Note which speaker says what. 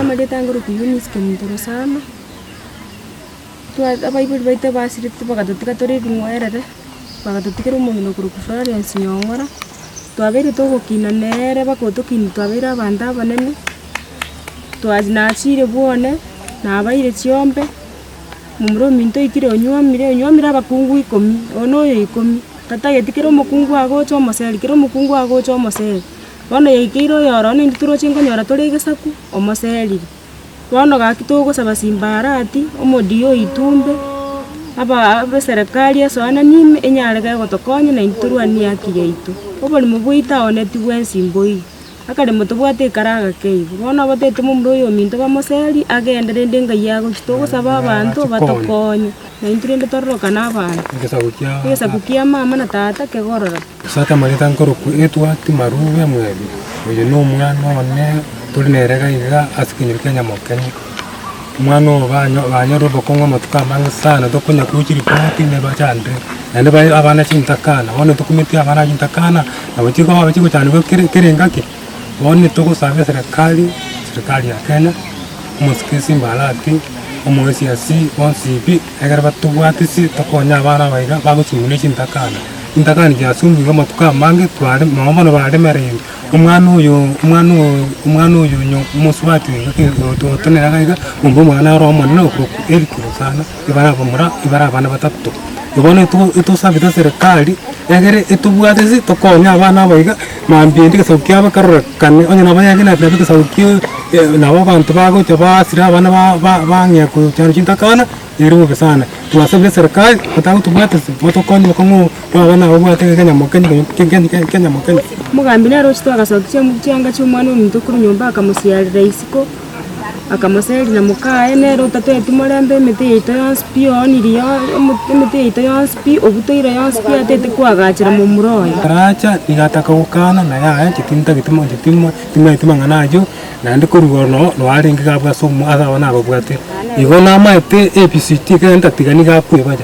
Speaker 1: Amarieta aye ngoroku Eunice Kemutorosana, twa abaibori baito ebasirete bagatotiga tore ebing'werere, bagatotigera omong'ina okorokwa Florence Nyong'ora, twabeire togokina nere baka otokinia twabeire abanto abanene, twachia nachire bwane, nabaire chiombe, momura ominto oikire onywomire, onywomire abakungu ikomi, one oyo ikomi, tatageti kera omokungu agocha omoseri, kera omokungu agocha omoseri. Bono yaikeire oyoro naintwe toroche nkonyora tore egesaku omoserire. Bono gaki togosaba simbarati, omodio oitwe ombe, aba- aba eserekari esoananie ime enyare kei gotokonya naintwe torwanie haki yaito. Oborimo bwaito ao netio bwensi mboigo, akaremo tobwate ekara agake igo. Bono obotaete momura oyominto bamoseri, agende rende engayi agochie. Togosaba abanto batokonye, naintwe rende tororokane abanto. Egesaku kiamama na tata kegororoke. Ase atamanyete nkorokwa etwa Timarube mw'ebi, oyo nomwana one tori nere gaiga ase kenyoro kia Nyamokenyi. Omwana oo banyorire obokong'u amatuko amange sana, tokonya gochia ripoti neba chandire, naende bae abana chintakana. Bono tokumeti abana chintakana, nabo chigoba chigochandegwa kere kere engaki. Bono nitogosaba eserekari, serekari ya Kenya, omosikisi mbarati, omoesiasi bonsi pi, ekero batobwati ase tokonye abana aba iga bagosuguna echitakana. Chitakana chiasugigwa amatuko amange tware nonya bono baremerire, omwana oyo omwana oyo omwana oyo onya omosubati oyo ototenena iga, omba omwana ore omonene okorokwa Eric Rosana. ibare abamura, ibare abana batato. Bono etogo etosabete serikari, egere etobwate ase tokonye abana aba iga, mambia ende egesaku kiabo kerorekane, onye nabo yare na nabo egesaku kiaaa eh nabo abanto bagocha basira abana ba- ba bang'ea kochanda chintakana, ere bobe sana. Twasabire serikari, gotagotobwate se, motokonye bokong'u bwa abana aba obwate gete kenya mokenya gete ke- ke- ke- kenya mokenya. Omogambi nere ochia toagasokia chianga chi'Omwana-o-ominto korwa nyomba akamosiarera isiko. Akamoseri na mokaye, nere otateti morembe emete yaito yonsi pi, ooniri yonsi, emete yaito yonsi pi, obutoire yonsi pi, atete koagachera momura oye. Aracha, nigo ataka gokana, na yaya, chitini ntageti mono, chitini mono, timanyeti mang'ana ayio, naende korwa igoro noo noo arenge iga abwate ase amo ase ababwate. Igo namaete ebisiti, ekero ntatiga nigo akoebacha.